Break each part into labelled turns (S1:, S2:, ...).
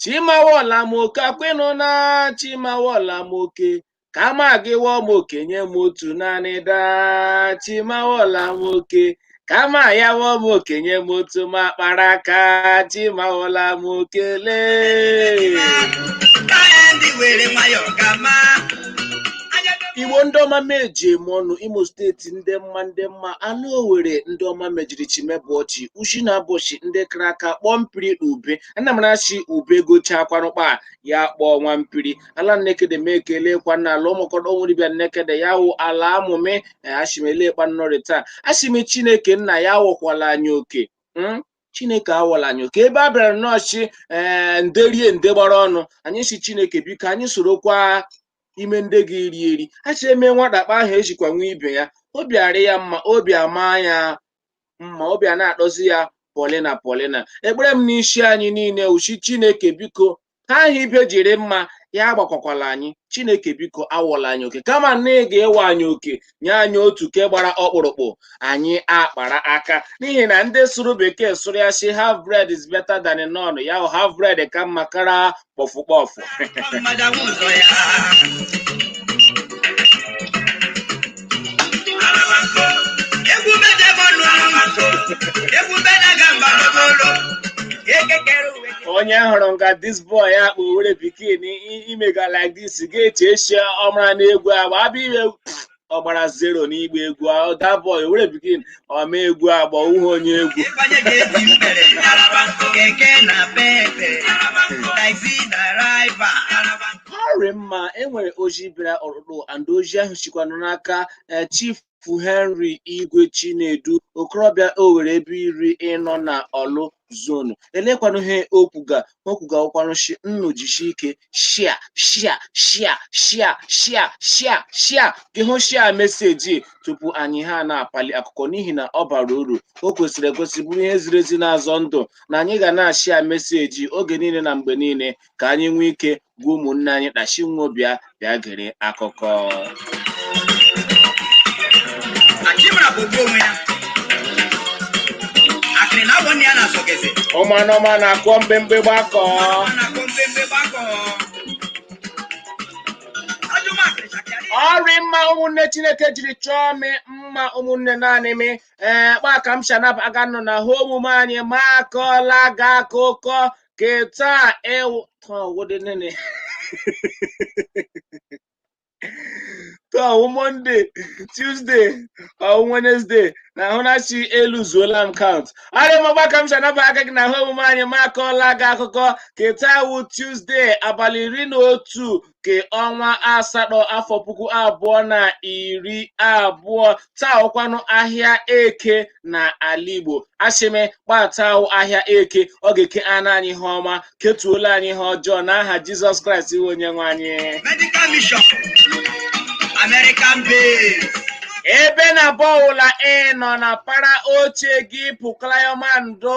S1: chi m awọla m oke kwenụ na chi m awọla m oke kama gị awọ m oke nye m otu naanị daa chi m awọla m oke kama ya awọ m oke nye m otu m akpara aka chi m awọla m oke lee igbo ndị ọma m eji eme ọnụ imo steeti nde mma nde mma nụ owere ndị ọma m ejiri chimebụ ọchị ushi na abọchi ndị kara aka kpọọ mpiri na ube ana m na-achị ube gochaa kwanụkpa ya kpọọ nwa mpiri ala nnekede m ekele kwa na ala ụmụkọdọ nwuribịa nnekede ya wụ ala amụme ashimele kpa nnọrị taa ashi m chineke nna ya awọkwala anyị oke mm? chineke awọla anyị oke ebe a bịara nọọchị ee eh, nde rie nde gbara ọnụ anyị si chineke biko anyị sorokwa ime ndị gị iri eri ashị eme nwata kpa ahụ ejikwa nwa ibe ya obi arị ya mma obi ama ya mma obi ana-atọzi ya polina polina ekpere m n'isi anyị niile wụ shi chineke biko ihe ahụ ibe jiri mma ya agbakwakwala anyị chineke biko awọla anyị oke kama na ị ga-awọ anyị oke nye anyị otu ke gbara ọkpụrụkpụ anyị akpara aka n'ihi na ndị sụrụ bekee sụrụ ya si half bread is better than none ya wụ half bread ka mma kara kpọfụ kpọfụ onye hụrụ nga this boy a kpọ owere pikin imega like this ga-eche shi ọ mara n'egwu agba abịa ime ọ gbara zero n'igba egwu that boy owere pikin ọ ma egwu agba uhe onye egwu ịbanye ga-eji
S2: mbere keke napepe taxi driver
S1: ọrị mma enwere ozi bịara ọhụrụ and ozi ahụ shikwanụ n'aka eh, chief henry igwe chinedu okorobịa owere ebeiri nọ na ọlụ zonu elekwanụ ihe o kwuga o kwuga wụkwanụ shi unu jishi ike shia shia shia shia shia shia shia gị hụ shia meseji tupu anyị ha na-apali akụkọ n'ihi na ọ bara uru o kwesịrị ekwesị bụrụ ihe ziri ezi na-azọ ndụ na anyị ga na-ashia meseji oge niile na mgbe niile ka anyị nwee ike gwa ụmụnne anyị kpa shi nwo bịa bịa gere akụkọ
S2: Achimara bụ ogbu onwe ya. Akịrị na awọ nne ya na-asọgeze. ọma na ọma na-akọ
S1: mbembe gbakọ Ọ na-akọ mbembe gbakọ. Ajọ m akịrị chakịarị. ọrị mma ụmụnne chineke jiri chọọ m mma ụmụnne naanị m ee kpa ka m shanap aga nọ na hụ omume anyị ma akọla ga akụkọ ke taa ịwụ taa ọ wụdị nịnị taa ọwụ mọnde tuzde ọwụ wenesde na ahụna shi eluzuola m kaụnt arịmọgba ka m si anaba aka gị na ahụ omume anyị ma akọọla gị akụkọ ke taa wụ tuzde abalị iri na otu ke ọnwa asatọ afọ puku abụọ na iri abụọ taa wụkwanụ ahịa eke na ala igbo asị m mgbe taa wụ ahịa eke ọ ga-eke ana anyị ihe ọma ketuola anyị ihe ọjọọ n'aha jizọs kraịst ịwụ onye nwe anyị Medical
S2: Mission, American Base. ebe
S1: n'ebe ọwụla ị nọ na para oche gị pụklayọmando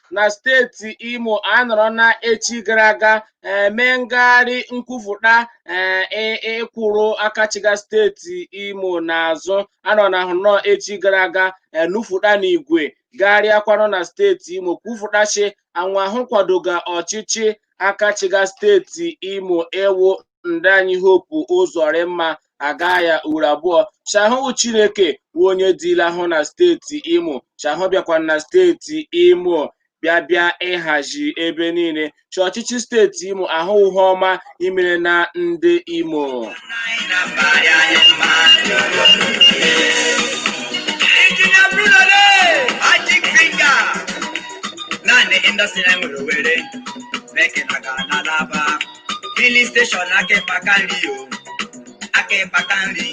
S1: na steeti Imo anọrọ na echi gara aga eh, mee ngagharị nkwupụta eh, ị- ịkwụrụ aka chịga steeti Imo n'azụ anọ na ahụ nọ echi gara aga eh, nufuta n'igwe gagharịakwanụ na steeti Imo kwupụta shi anwa hụ kwadoga ọchịchị aka chịga steeti Imo ịwụ ndị anyị Hope Ụzọrịmma aga ya uru abụọ shi ọ wụ chineke wụ onye dịla ahụ na steeti imo shi ahụ bịakwa na steeti imo bịa bịa ịhazi ebe niile shi ọchịchị steeti imo ahụ ihe ọma imere na ndị imo
S2: Engineer Bruno Lee, Magic Finger. Naanị indọstrị na-enwere Owerri, Bekee na Ghana laba. filin steshọn aka ịkpa aka nri o aka ịkpa aka nri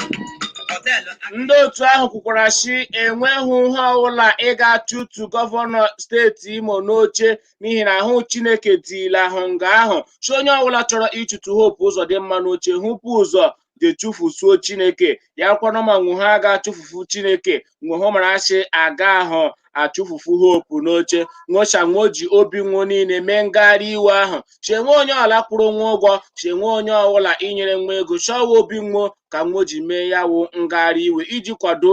S2: họteelụ aka ndị otu
S1: ahụ kwukwara shi enwehụ ihe ọwụla ị ga-achụtu gọvanọ steeti imo n'oche n'ihi na ahụ chineke dịla ahụ nga ahụ shi onye ọwụla chọrọ ịchụtụ Hope Ụzọdịmma n'oche hụ vu ụzọ je chụfusuo chineke ya kwanụ ma nwo ha ga-achụfufu chineke nwo hụ mara shi agahụ achụfufu Hope n'oche nwo shi nwo ji obi nwo niile mee ngagharị iwe ahụ shi enwe onye ọwụla kwụrụ nwa ụgwọ shi enwe onye ọwụla inyere nwa ego shi ọ wụ obi nwo ka nwo ji mee ya wụ ngagharị iwe iji kwado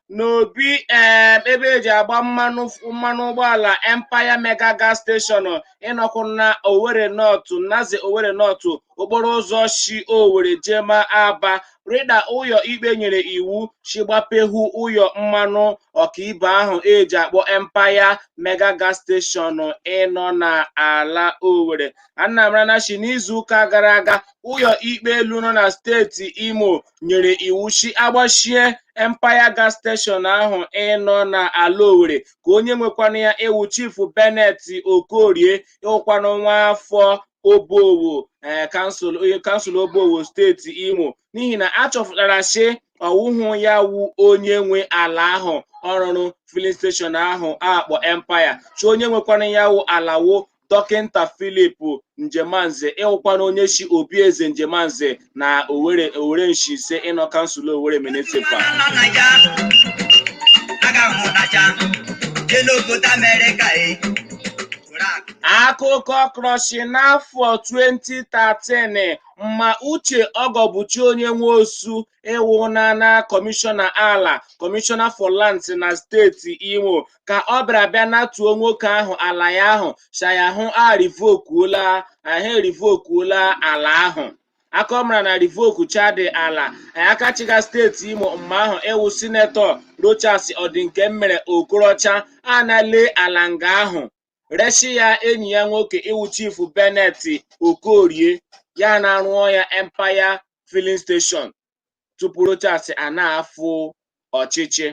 S1: n'obi em, ebe eji agba mmanụ ụgbọala Empire Mega Gas Station ịnọkwụ na Owerri North Naze Owerri North okporo ụzọ shi Owerri jema Aba rịda ụyọ ikpe nyere iwu shi gbapehu ụyọ mmanụ ọkaibe ahụ eji akpọ Empire Mega Gas Station ịnọ na ala Owerri a na-amarana shi n'izuụka gara aga ụyọ ikpe elu nọ na steeti Imo nyere iwu shi agbachie Empire Gas Station ahụ ịnọ n'ala Owerri ka onye nwekwanụ ya ịwụ Chief Bennett Okorie ịwụkwanụ nwa afọ Obowo ee kansụl Obowo steeti Imo n'ihi na a chọpụtara shi ọwụhụ ya wụ onye nwe ala ahụ ọ rụrụ filin steshọn ahụ akpọ Empire shi onye nwekwanụ ya wụ ala wo dọkịnta Philip Njemanze ịwụkwanụ onye si obi eze Njemanze na Owere Owere nshi ise ịnọ kansụl Owere Municipal na na ya aga m ụdacha jee n'obodo amerịka e were akụ akụkọ kọrọ shi n'afọ 2013 mma uche ọgọbụchi onye nwosu ịwụ na na kọmishọna ala kọmishọna for lands na steeti imo ka ọ bịara bịa natuo nwoke ahụ ala ya ahụ sha ya hụ arivokuola ahụ erivokuola ala ahụ aka ọ mara na rivoku chadị ala akachịga steeti imo mma ahụ ịwụ sinetọ rochas ọdịnkemmere okorocha anale ala nga ahụ reshi ya enyi ya nwoke ịwụ chifu Bennett Okorie ya na-arụọ ya Empire filling station tupu Rochas a na-afụ ọchịchị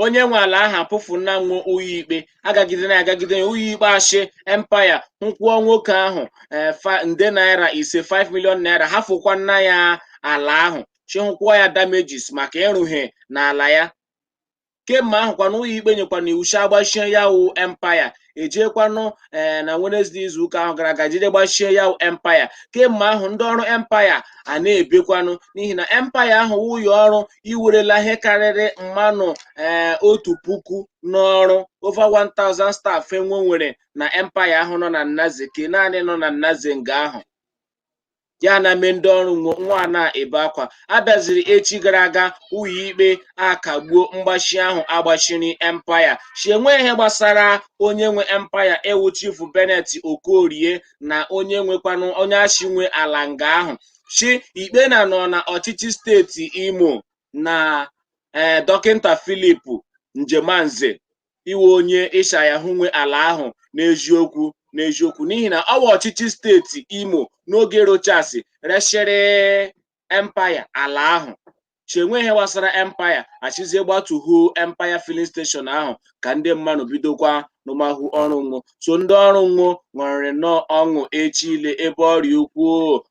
S1: onye nwe ala ahụ akpụfuna nwo ụyọ ikpe agagide na agagide ya ụyọ ikpe ashị empaya hụ kwụọ nwoke ahụ eh, fa- nde naira ise 5 million naira hafụkwana ya ala ahụ shị hụ kwụọ ya damages maka ịrụ ihe n'ala ya kemma ahụkwanụ ụyọ ikpe nyekwanụ iwu shi agbachie ya wụ empaya ejekwanụ ee na Wenezdee izu ụka ahụ gara aga jide gbachie ya wụ empaya kemma ahụ ndị ọrụ empaya a na-ebekwanụ n'ihi na empaya ahụ wụ ụyọ ọrụ iwerela ihe karịrị mmanụ ee otu puku n'ọrụ over 1000 staff enwe nwere na empaya ahụ nọ na Naze ke naanị nọ na Naze nga ahụ ya na mee ndị ọrụ nwo a na-ebe akwa abịaziri echi gara aga ụyọ ikpe akagbuo mgbachi ahụ agbachiri empaya shi enwe ihe gbasara onye nwe empaya ịwụ chifu benet okorie na onye nwekwanụ onye ashị nwe ala nga ahụ shi ikpe na nọ na ọchịchị steeti imo na ee dọkịnta filip njemanze ịwụ onye ịsha ya hụ nwe ala ahụ n'eziokwu n'eziokwu n'ihi na ọwa ọchịchị steeti imo n'oge rochasi reshịrị empaya ala ahụ shi enwe ihe gbasara empaya ashịzie gbatuhu empaya filin steshọn ahụ ka ndị mmanụ bidokwa n'ụmahụ ọrụ nwo so ndị ọrụ nwo ṅụrịrị nnọọ ọṅụ echi ile ebe orie ukwu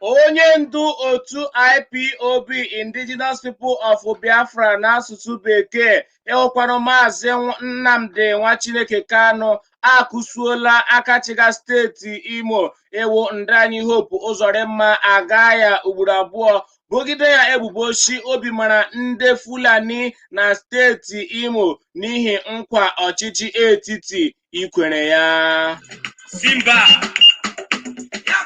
S1: onye ndu otu ipob indigenous people of biafra n'asụsụ bekee ịwụkwanụ maazị nnamdi nwa chineke kanụ akụsuola akachịga steeti imo ịwụ nda anyị hope ụzọrịmma aga ya ugboro abụọ bogide ya ebubo shi o bimara ndị fulani na steeti imo n'ihi nkwa ọchịchị etiti ikwere ya Simba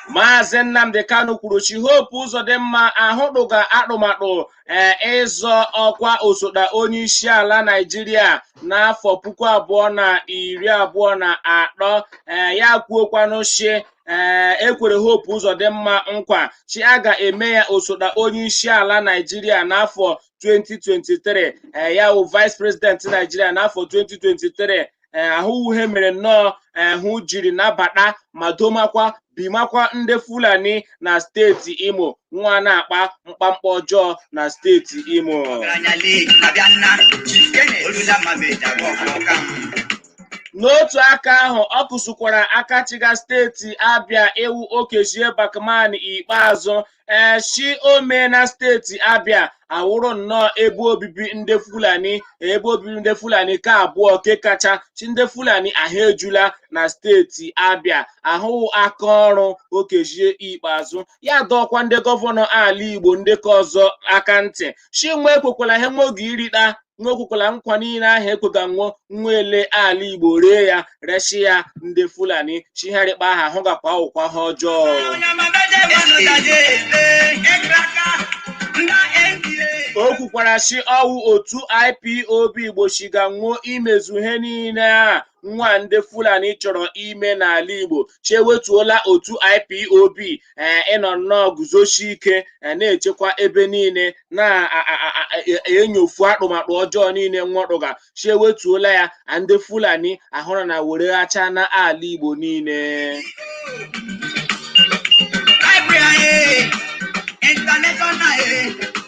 S1: Maazị Nnamdi Kanu kwuru shi Hope Uzodimma ahụ tụga atụmatụ ee ịzọ ọkwa osote onye isi ala Naịjirịa n'afọ puku abụọ na iri abụọ na atọ ee ya kwuokwanụ shi ee e kwere Hope Uzodimma nkwa shi a ga-eme ya osote onye isi ala Naịjirịa n'afọ 2023 ee ya wụ vice president Naịjirịa n'afọ 2023 ee ahụ wụ ihe mere nnọọ ahụ jiri nabata ma domakwa bimakwa ndị fulani na steeti imo nwa na-akpa mkpamkpa ọjọọ na steeti imo n'otu aka ahụ ọ kụsụkwara aka chịga steeti abịa ewu okezie bakman ikpeazụ ee shi o meena steeti abịa awụrụ nnọọ ebe obibi ndị fulani ebe obibi ndị fulani ke abụọ ke kacha shi ndị fulani ahụ ejula na steeti abịa ahụ aka ọrụ okezie ikpeazụ ya dọọkwa ndị gọvanọ ala igbo ndị ke ọzọ aka ntị shi nwa ekwekwala ihe nwa ga-erita nwa ekwekwala nkwa niile ahụ e kwega nwọ nwa ele ala igbo ree ya reshi ya ndị fulani chigharịkpa aha hụ gakwa awụkwa aha ọjọọ o kwukwara shi ọ wụ otu ipob gbochiga nwọ imezu ihe niile a nwa ndị fulani chọrọ ime n'ala igbo shi ewetuola otu ipob ee ịnọ nnọọ guzoshie ike ee, na-echekwa ebe niile na-enyofu atụmatụ ọjọọ niile nwọ tụga shi ewetuola ya a ndị fulani ahụrụ na were ghacha na ala igbo niile Library,
S2: international, eh,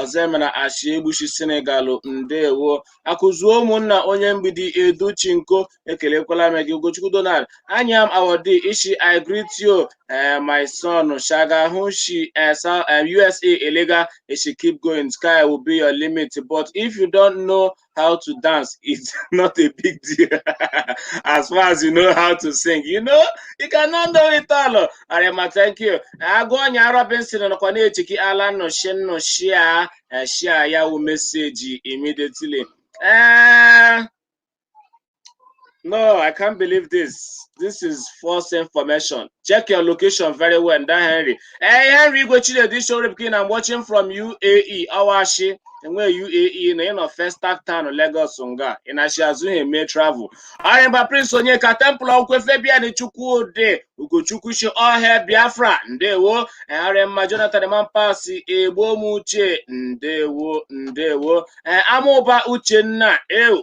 S1: Ọzọemena Achiegbushi Senegal ndewo akụzuo ụmụnna onye mgbidi edu chinko ekelekwala m gị ugochukwu donald anya m awọdi ishi i greet you eh, my son shaga hụ shi eh, South- eh, usa elega ị shi keep going sky will be your limit but if you don't know how to dance is not a big deal as far as you know how to sing. You know, you cannot know it all. Ọ rị mma, thank you. Agọnya Robinson nọkwa na-echiki ala nọ shi ụnụ share ya wụ message immediately. Ee, No, I can't believe this. This is false information. Check your location very well, Nda Henry. Hey, Henry Igwe Chinedu Shoripkin, I'm watching from UAE, Ọ wụ ashị. Enwe UAE na ị nọ Festac Town, Lagos nga. Ị na-achị azụ ihe mee travel. Ọ rị mma Prince Onyeka, Temple Ọkwe Fabian Chukwudi, Ugochukwu shi all hail Biafra, Ndewo. Eh, ọ rị mma Jonathan Mampasi, Egbomuche, Ndewo, Ndewo. Eh, Amụba Uchenna, Ew,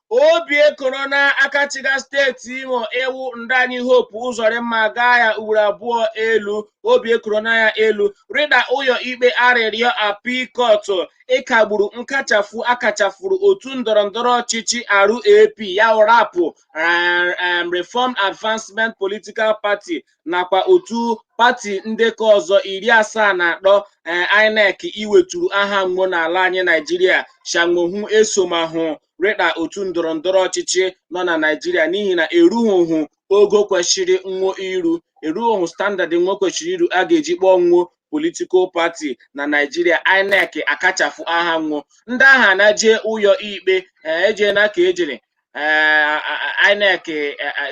S1: obi ekoro na aka chịga steeti imo ịwụ nda anyị Hope Ụzọrịmma gaa ya ugboro abụọ elu obi ekoro na ya elu rịda ụyọ ikpe arịrịọ appeal court ịkagburu nkachafu akachafuru otu ndọrọ ndọrọ ọchịchị RAP ya wụ RAP um, Reformed Advancement Political Party nakwa otu pati ndị ka ọzọ iri asaa na atọ um, INEC iweturu aha nwo n'ala anyị Naijiria sha nwo hụ esomahụ rịda otu ndọrọ ndọrọ ọchịchị nọ na Naịjirịa n'ihi na erughị ogo kwesịrị nwo iru erughị standard nwo kwesịrị iru a ga-eji kpọọ nwo politikal pati na Naịjirịa INEC akachafu aha nwo ndị ahụ na jee ụyọ ikpe ejee na ka e jere INEC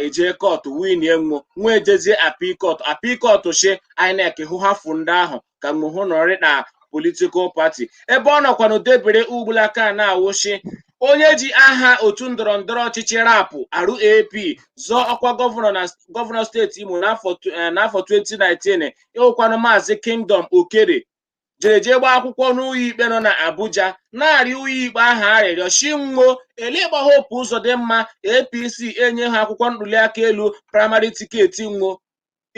S1: eje kọtụ winie nwo nwa ejezie appeal court appeal court shi INEC hụ hafụ ndị ahụ ka nwo hụ nọrị na politikal pati ebe ọ nọkwanụ debere ugbulaka na-awụ shi onye ji aha otu ndọrọ ndọrọ ọchịchị RAP RAP zọọ ọkwa gọvanọ na gọvanọ steeti Imo n'afọ tw- eh, n'afọ 2019 ịwụkwanụ maazị Kingdom Okere jere jee gbaa akwụkwọ n'ụyọ ikpe nọ na Abuja na-arịọ ụyọ ikpe ahụ arịrịọ shi nwo elegba Hope Ụzọdịmma APC enyehụ akwụkwọ ntuliaka elu praịmarị tiketi nwo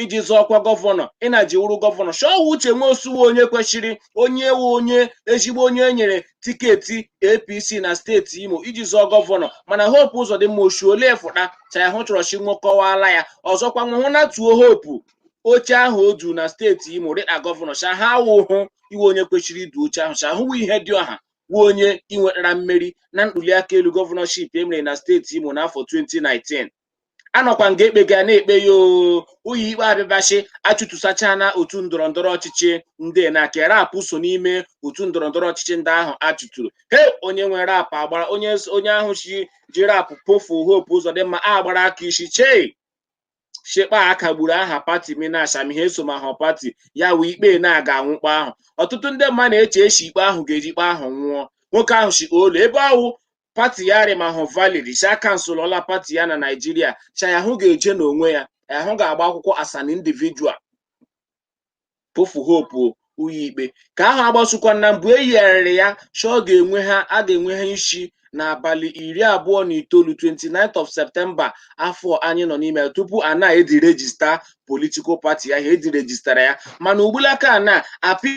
S1: iji zọọ ọkwa gọvanọ ị na ji wụrụ gọvanọ shi ọ wụ Uche Nwosu wụ onye kwesịrị onye wụ onye ezigbo onye e nyere tiketi apc na steeti imo iji zọọ gọvanọ mana Hope Ụzọdịmma o shi olee fụta sha ya hụ chọrọ shi nwo kọwaala ya ọzọkwa nwo hụ natuo hope oche ahụ o du na steeti imo rịda gọvanọ sha ha awụhụ iwe onye kwesịrị idu oche ahụ sha hụ wụ Ihedịọha wụ onye inwetara mmeri na ntuliaka elu gọvanọship e mere na steeti imo n'afọ 2019 a nọkwa nga ekpega na-ekpe ya ụyọ ikpe abịabashi achụtusachana otu ndọrọ ndọrọ ọchịchị ndị nke RAP so n'ime otu ndọrọ ndọrọ ọchịchị ndị ahụ a chụturu eh onye nwe RAP agbara onye onye ahụ si ji RAP kpụfụ Hope Ụzọdịmma agbara aka isi chee shekpa akagburu aha pati minash amihe so ma ha pati ya wee ikpe na-aga anwụkpọ ahụ ọtụtụ ndị mma na-eche eshi ikpe ahụ ga-eji ikpe ahụ nwụọ nwoke ahụ shi olo ebe ọ wụ pati ya rịmahụ valid shi akansụlọla pati ya na naijiria sha ya hụ ga-eje n'onwe ya ya hụ ga-agba akwụkwọ as an individual kpụfụ Hope ụyọ ikpe ka ahụ agbasokwa na mbụ eyigharịrị ya shi ọ ga-enwe ha a ga-enwe ha isi n'abalị iri abụọ na itoolu 29th of Septemba afọ anyị nọ n'ime ya tupu a na-edirejista politikal pati ya ha edirejistara ya mana ugbulaka a na-apị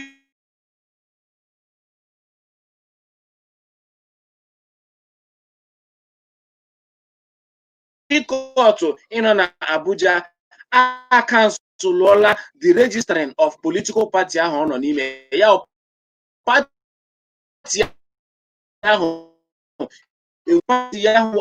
S1: kọtụ ịnọ na Abuja akanselụọla deregistering of political party ahụ ọ nọ n'ime ya pati ahụ pati ahụ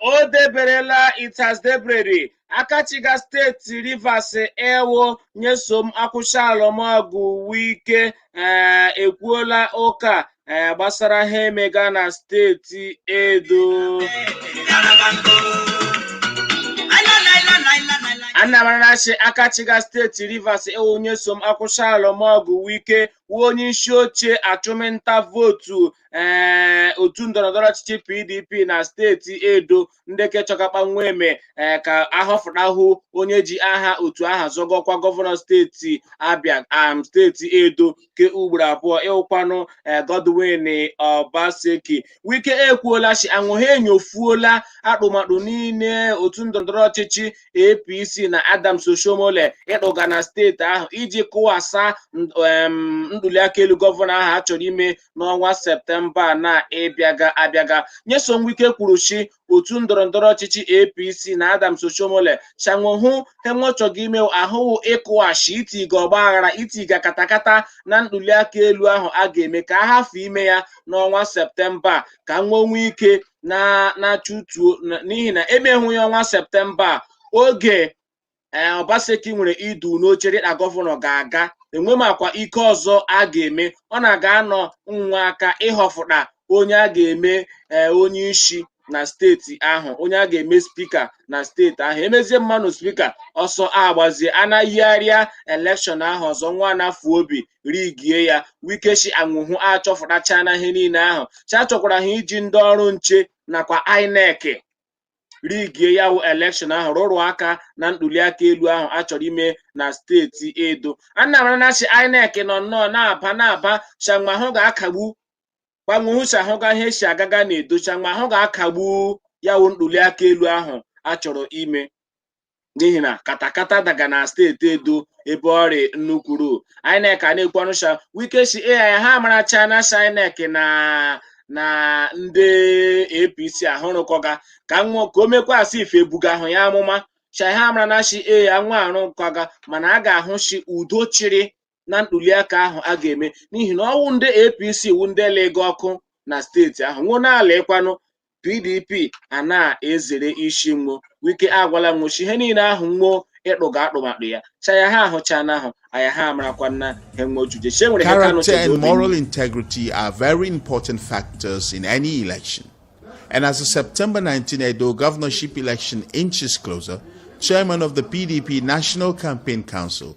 S2: o
S1: deberela it has debereri aka chịga steeti rivers ịwụ nyesom akwụchalụmọgụ wike ee ekwuola ụka ee gbasara ha emega na steeti edo anyị marana shi aka chịga steeti rivers ịwụ nyesom akwụchalụmọgụ wike wụ onye isi oche achụmnta vootu ee otu ndọrọndọrọ ọchịchị pdp na steeti edo ndị ke chọga kpa nwe eme ee ka ahọfụtahụ onye ji aha otu ahụ azọga ọkwa gọvanọ steeti abia am steeti edo ke ugboro abụọ ịwụkwanụ ee godwin obaseki wike ekwuola si anwụhụ enyofuola atụmatụ niile otu ndọrọndọrọ ọchịchị apc na adams oshomole ịtụga na steeti ahụ iji kụwasa ntuliaka elu gọvanọ ahụ a chọrọ ime n'ọnwa septemba a na-ịbịaga abịaga nyesom wike kwuru shi otu ndọrọ ndọrọ ọchịchị apc na adams oshomole shi anwụhụ he nwe chọga ime ahụ wụ ịkụwashi itiga ọgba aghara itiga katakata na ntuliaka elu ahụ a ga-eme ka a hafụ ime ya n'ọnwa septemba a, ka nwe nwee ike na na-achụtuo na- n'ihi na e meghụ ya ọnwa septemba a, oge ee Obaseki nwere idu n'oche dịka gọvanọ ga-aga enwemakwa ike ọzọ a ga-eme ọ na-aga anọ nwa aka ịhọfụta onye a ga-eme ee onye isi na steeti ahụ onye a ga-eme spika na steeti ahụ emezie mmanụ spika ọsọ agbazie anayigharịa elekshọn ahụ ọzọ nwa na-afụ obi rigie ya wike shi anwụhụ achọfụtachana ihe niile ahụ sha achọkwara ha iji ndị ọrụ nche nakwa inec rigie ya wụ elekshọn ahụ rụrụ aka na ntuliaka elu ahụ a chọrọ ime na steeti edo anyị marana shi inec nọ nnọọ na-aba na-aba shama ahụ ga-akagbu kpa nwe hụcha ahụ ga ihe si agaga na edo shama ahụ ga-akagbu ya wụ ntuliaka elu ahụ a chọrọ ime n'ihi na katakata daga na steeti edo ebe ọ rị nnukwuru inec a na-ekwu ọnụ sha wike si ai ha marachana shi inec na na ndị apc ahụ rụkọga ka nwa ka o mekwaa shi ife e buga ahụ ya amụma sha ha marana shi ai nwa arụkọga mana a ga-ahụ shi udo chịrị na ntuliaka ahụ a ga-eme n'ihi na ọwụ ndị APC wu ndị lega ọkụ na steeti ahụ nwo na-ala ịkwanụ PDP a na-ezere isi nwo wike agwala nwo shi ihe niile ahụ nwo ịtụga atụmatụ ya cha ya ha ahụcha n'ahụ aya ha amarakwa na ha nwojude chi enwere Character
S3: and moral integrity are very important factors in any election. And as the September 19 Edo governorship election inches closer, chairman of the PDP National Campaign Council,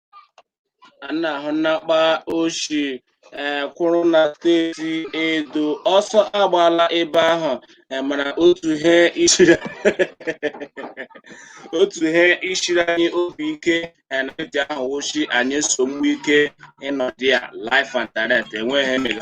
S1: a na-ahụ nnakpa ochie ee kwụrụ na steeti edo ọsọ agbaala ebe ahụ ee, mana otu he ishiri otu he ishiri anyị obi ike ee, na eji ahụ wochi anyị nsogbu ike ịnọdụ ya live and direct enweghị emega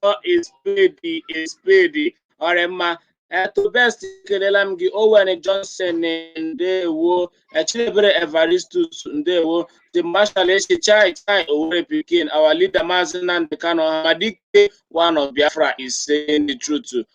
S1: call a spade a spade ọrịa mma eto best ekelela m gị owen johnson ndewo chidiebere evaristus ndewo the marshal eche chai chai owere pikin our leader maazị nnamdị kanu ọhamadike one of biafra is saying the truth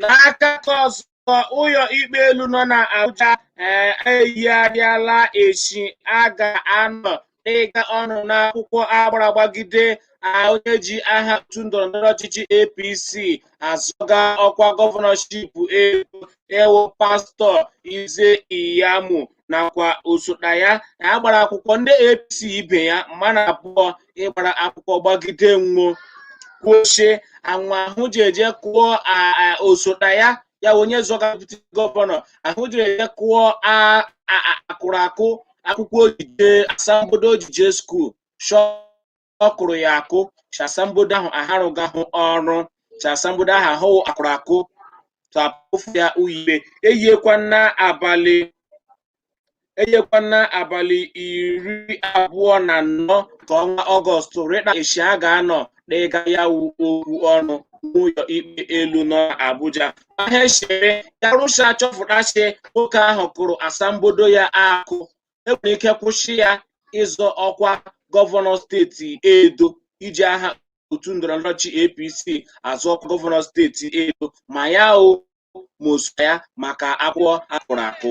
S1: n'aka nke ọzọ ụlọ ikpe elu nọ na Abuja ee, eyigharịala echi a ga-anọ n'ịga ọnụ n'akwụkwọ a gbara gbagide onye ji aha otu ndọrọndọrọ ọchịchị APC azọga ọkwa gọvanọship Edo ịwụ pastọ Ize Iyamu nakwa osote ya a gbara akwụkwọ ndị APC ibe ya mmadụ abụọ ịgbara akwụkwọ gbagide nwo kwuo shi nwa ahụ ji eje kụọ a- a- osote ya ya onye zọga deputy gọvanọ ahụ ji eje kụọ a- a- a- akụrụ akụ akwụkwọ o ji je asambodo o ji je skuul shọ ọ kụrụ ya akụ shi asambodo ahụ aharụghị ahụ ọrụ shi asambodo ahụ ahụ akụrụ akụ tapụfụ ya ụyọ ikpe eyekwa na abalị eyekwa na abalị iri abụọ na anọ nke ọnwa ọgọst rịka echi a ga-anọ n'ịga ya wu okwu ọnụ n'ụlọ ikpe elu nọ n'Abuja ahịa chere ya rụcha a chọpụta shi nwoke ahụ kụrụ asambodo ya akụ enwere ike kwụsị ya ịzọ ọkwa gọvanọ steeti Edo iji aha otu ndọrọndọrọ ọchịchị APC azọ ọkwa gọvanọ steeti Edo ma ya o ma osote ya maka akwụkwọ akụrụ akụ.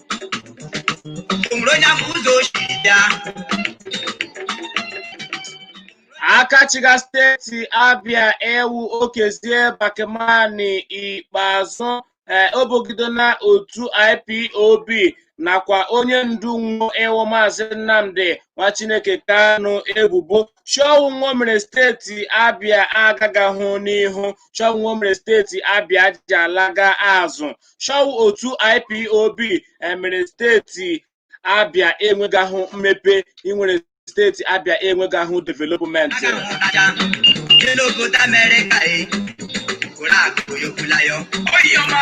S2: nwere onye ama ụzọ o
S1: si bịa aka chịga steeti abịa ịwụ okezie bakemani ikpeazụ ee, o bogidona otu ipob nakwa onye ndu nwo ịwụ maazị nnamdi nwa chineke kanu ebubo chi ọ wụ nwo mere steeti abịa agagahụ n'ihu chi ọ wụ nwo mere steeti abịa ji alaga azụ chi ọ wụ otu ipob emere steeti abịa enwegahụ mmepe imere steeti abịa enwegahụ development aga m ụtaja dị n'obodo
S2: amerịka e kwụrụ akụ yokwula ya oyọma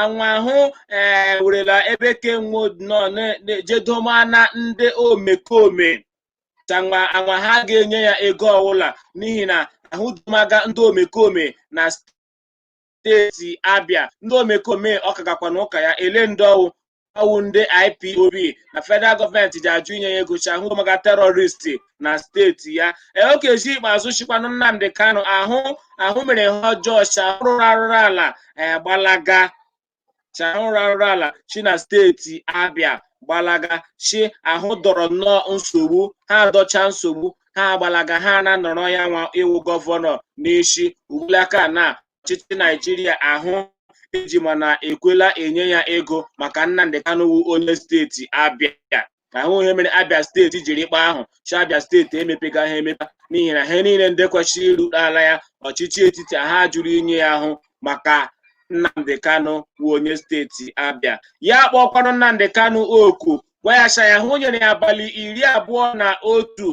S1: anwa ahụ ee werela ebe ke nwo nọ jedoma ndị omekome chi anwa ha ga-enye ya ego ọwụla n'ihi na ahụ domaga ndị omekome na steeti abịa ndị omekome ọ kagakwa na ụka ya ele ndị ọ wụ ọ wụ ndị ipob na federal gọọmenti ji ajụ inye ya ego chi ahụ domaga terọristi na steeti ya ee okezie ikpeazụ chịkwanụ nnamdi kanu ahụ mere ihe ọjọọ chi ahụ rụrụ arụrụ ala gbalaga chi ahụ rụrụ arụrụ ala chi na steeti abịa gbalaga chi ahụ dọrọ nnọọ nsogbu ha adọcha nsogbu ha agbalaga ha na-anọrọ ya nwa ịwụ gọvanọ n'isi ugbulaka na ọchịchị Naijiria ahụ eji mana ekwela enye ya ego maka Nnamdi Kanu wụ onye steeti Abia ahụ ihe mere Abia steeti jiri kpa ahụ chi Abia steeti emepegahụ emepe n'ihi na ihe niile ndị kwesịrị iru ala ya ọchịchị etiti ha jụrụ inye ya ahụ maka Nnamdi Kanu wụ onye steeti Abia ya kpọkwanụ Nnamdi Kanu oku gwa ya si aya hụ nyere ya abalị iri abụọ na otu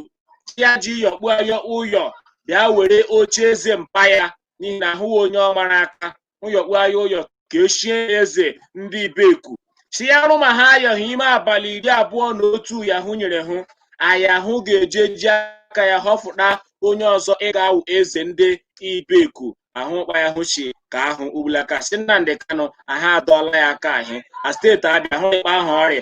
S1: chi ya ji yọkpuo ya ụyọ bịa were oche eze mpa ya n'ihi na ahụ wụ onye ọ mara aka ụyọkpu aya ụyọ ka echie ya eze ndị ibeku si ya rụ ma ha ayọhụ ime abalị iri abụọ na otu ya hụ nyere hụ aya hụ ga-eje ji aka ya họfụta onye ọzọ ịga awụ eze ndị ibeku ahụ kpa ya hụ chi ka ahụ ugbulaka si nnamdi kanu ahụ adọọla ya aka ahị a steeti abịa hụ ịkpa ahụ ọrịa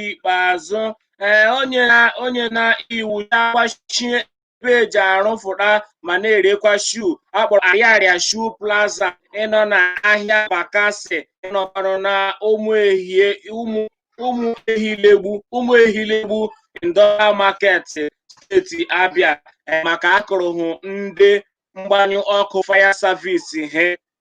S1: ikpeazụ ee o nyena iwu ya gbachie ebe e ji arụfụta ma na-erekwa shoe a kpọrọ ariaria shoe plaza ịnọ na ahịa bakasị ịnọkwanụ na ụmụ ehie ụmụ ụmụ ehilegbu ụmụ ehilegbu industrial market steeti abịa ee, maka akụrụhụ ndị mgbanyụ ọkụ fire service he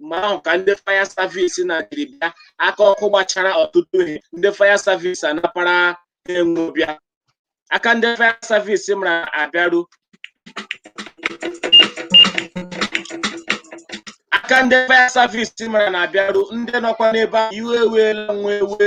S1: mgbe ahụ ka ndị fire service na jiri bịa aka ọkụ gbachara ọtụtụ ihe ndị fire service anapara ha enwe bịa aka ndị fire service mara na-abịaru ndị nọkwa n'ebe ahụ iwe ewela nwo ewe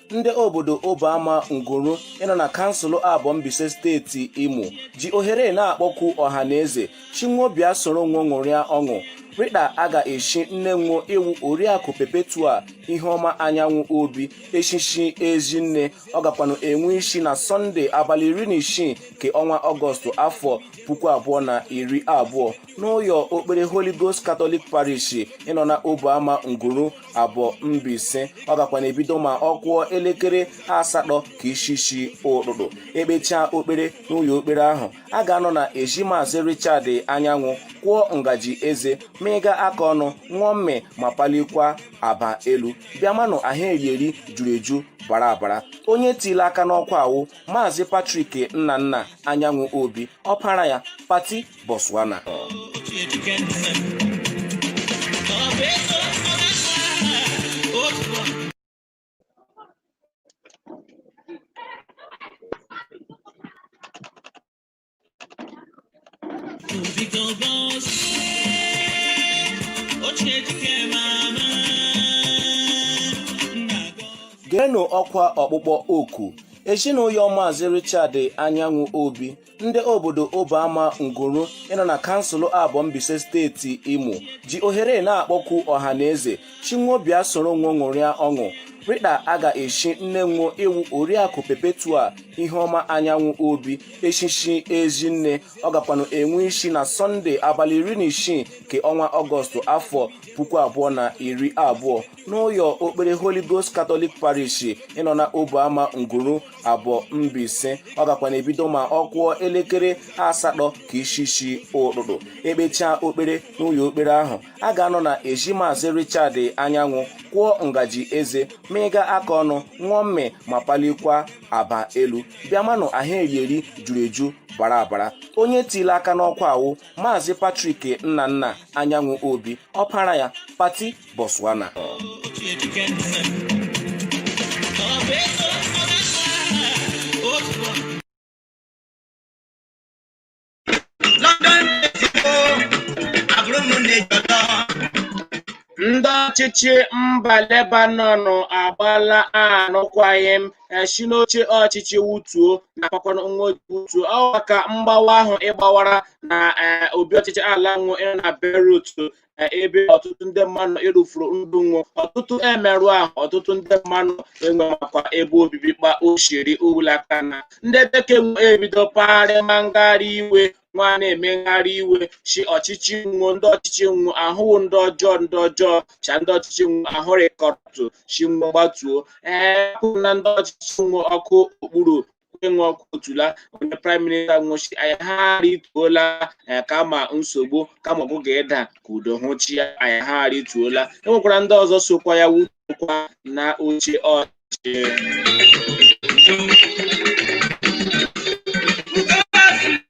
S1: ndị obodo Oboama Nguru ịnọ na kansụl Abọ Mbaise steeti Imo ji ohere na-akpọku ọha na eze shị nwo bịa soro nwo ṅụrịa ọṅụ rịda a ga-echi nne nwo ịwụ Oriakụ Perpetua Iheọma Anyanwụ Obi echichi Ezinne ọ gakwanụ enwe isi na Sọnde abalị iri na isii nke ọnwa Ọgọstụ afọ puku abụọ na iri abụọ n'ụyọ okpere holy ghost katọlik parish ịnọ na Oboama nguru Abọ Mbaise ọ gakwa na-ebido ma ọ kụọ elekere asatọ ka isi isi ụtụtụ ekpechaa okpere n'ụyọ okpere ahụ a ga-anọ na ezi maazị richard anyanwụ kwụọ ngaji eze ma ịga aka ọnụ ṅụọ mmị ma palikwa aba elu bịa manụ ahụ eri eri juru eju bara abara onye tiri aka n'ọkwa a wụ maazị patrik nnanna anyanwụ obi ọpara ya pati Botswana geenụ ọkwa ọkpụkpọ oku ezinụyọ maazị Richard Anyanwụ Obi ndị obodo Oboama Nguru ịnọ na kansụl Abọ Mbaise steeti Imo ji ohere na-akpọku ọha na eze shị nwo bịa soro nwo ṅụrịa ọṅụ rịda a ga-echi nne nwo ịwụ oriakụ Perpetua Iheọma Anyanwụ Obi echichi ezinne ọ gakwanụ enwe isi na Sọnde abalị iri na isii nke ọnwa Ọgọstụ afọ puku abụọ na iri abụọ n'ụyọ okpere Holy Ghost Catholic Parish ịnọ na Oboama Nguru Abọ Mbaise ọ gakwa na-ebido ma ọ kụọ elekere asatọ ka ishishi ụtụtụ ekpechaa okpere n'ụyọ okpere ahụ a ga-anọ na ezi maazị Richard Anyanwụ kwụọ ngaji eze mịga aka ọnụ ṅụọ mmị ma palikwa aba elu bịamanụ ahụ erieri juru eju bara abara onye tiri aka n'ọkwa a wụ maazị Patrick Nnanna Anyanwụ Obi ọpara ya pati Botswana Ndị ọchịchị mba Lebanon agbaala arụkwaghịm si n'oche ọchịchị wutuo nakwakwara nwo wutuo ọ maka mgbawa ahụ ịgbawara na e, obi ọchịchị ala nwo na Beirut ebe ọtụtụ ndị mmadụ ịrụfuru ndụ nwụọ ọtụtụ emerụ ahụ ọtụtụ ndị mmadụ enwe makwa ebe obibi kpa osiri ụlaka na ndị bekee ebido pagharị ma ngagharị iwe nwa na-eme ngagharị iwe chi ọchịchị nwụ ndị ọchịchị nwụ ahụ wụ ndị ọjọọ ndị ọjọọ cha ndị ọchịchị nwụ ahụ rịkọtuo chi nwụ gbatuo ee na ndị ọchịchị nwụ ọkụ okpuru enwe ọkụ otula onye praịm minista nwụ chi aya ha rituola eh, kama nsogbu kama ọgụ ga-eda ka udo hụ chi aya ha rituola enwekwara ndị ọzọ sokwa ya wụtuokwa na oche ọchị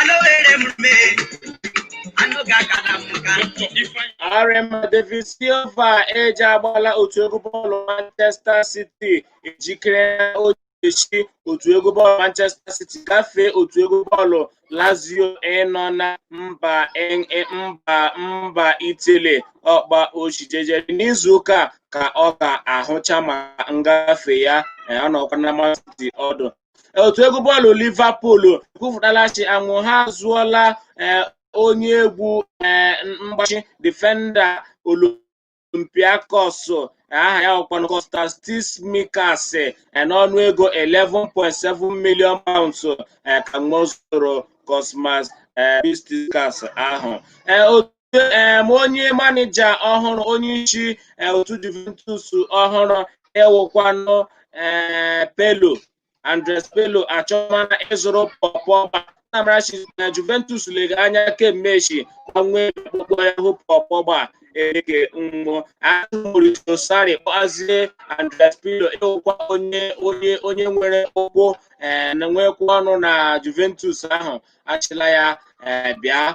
S1: anụ were m mee anụ ga-akara m nka Arema David Silva eji agbala otu egwu bọọlụ Manchester City ejikere na o ga-echi otu egwu bọọlụ Manchester City gafee otu egwu bọọlụ Lazio ịnọ na mba Eng- e- mba mba Italy ọ kpa o chi jejere n'izu ụka a ka ọ ga-ahụcha ma ngafe ya eh, ọ nọkwa na Man City ọdụ otu egwu bọọlụ Liverpool kwupụtala chi anwụ ha azụọla eh, onye egwu eh, mgbachi defenda Olympiacos aha ya wụkwanụ Kosmas Tsimikas eh, n'ọnụ ego 11.7 million pounds eh, ka nwa zụrụ Kosmas eh, Tsimikas ahụ Eh, otu em, onye manija ọhụrụ onye isi eh, otu Juventus ọhụrụ ịwụkwanụ eh, Pirlo Andrea Pirlo achọmana ịzụrụ Paul Pogba a maara si na Juventus lega anya kemgbe echi gbanwee ọkpụkpọ ya hụ Paul Pogba eleke mmụọ azụ Maurizio Sarri kpọazie Andrea Pirlo ịwụkwa onye onye onye nwere ụkwụ eh, na nwekwa ọnụ na Juventus ahụ achịla ya eh, bịa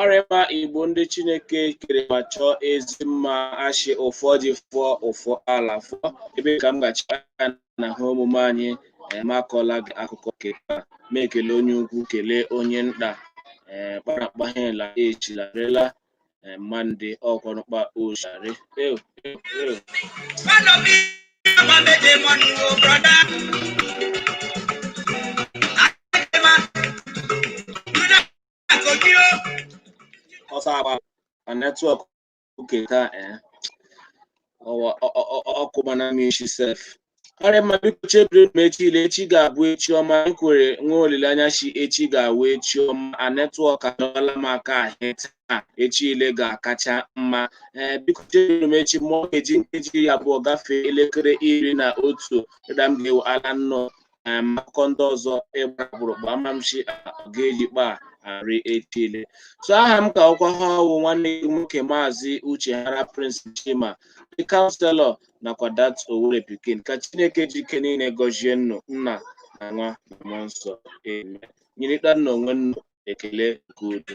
S1: arịma Igbo ndị Chineke kere ma chọọ ezi mma a chị ụfọdụ fụọ ụfọ ala fụọ ebe ka m gachi aka na ha omume anyị ma kọọla gị akụkọ nke taa ma e kelee onye ukwu kelee onye nta kparakpa ha ela echilarela eh, mande ọkwanụ kpa oshari ew ew ew ọsọ agba na netwọk oke taa eh. ọwa ọ- ọ- ọ- ọkụ mana m isi sef ọ rị mma biko chebiri m echi ile echi ga-abụ echi ọma m kwere nwee olileanya sị echi ga-awụ echi ọma a netwọk adọla m aka ahịa taa echi ile ga-akacha mma ee biko chebiri m echi mụọ ga-eji nkeji iri abụọ gafee elekere iri na otu ụda m ga-ewu ala nnọọ ee ma akụkọ ndị ọzọ ịgba agbụrụ gba ama m sị ga-eji kpa arị echi ile so aha m ka wụkwa ihe ọ wụ nwanne gị nwoke maazị uchehara prince chima the counselor nakwa dat owere pikin ka chineke ji ike niile gọzie ụnụ nna na nwa na mmụọ nsọ amen nyerịtanụ onwe ụnụ ekele nke udo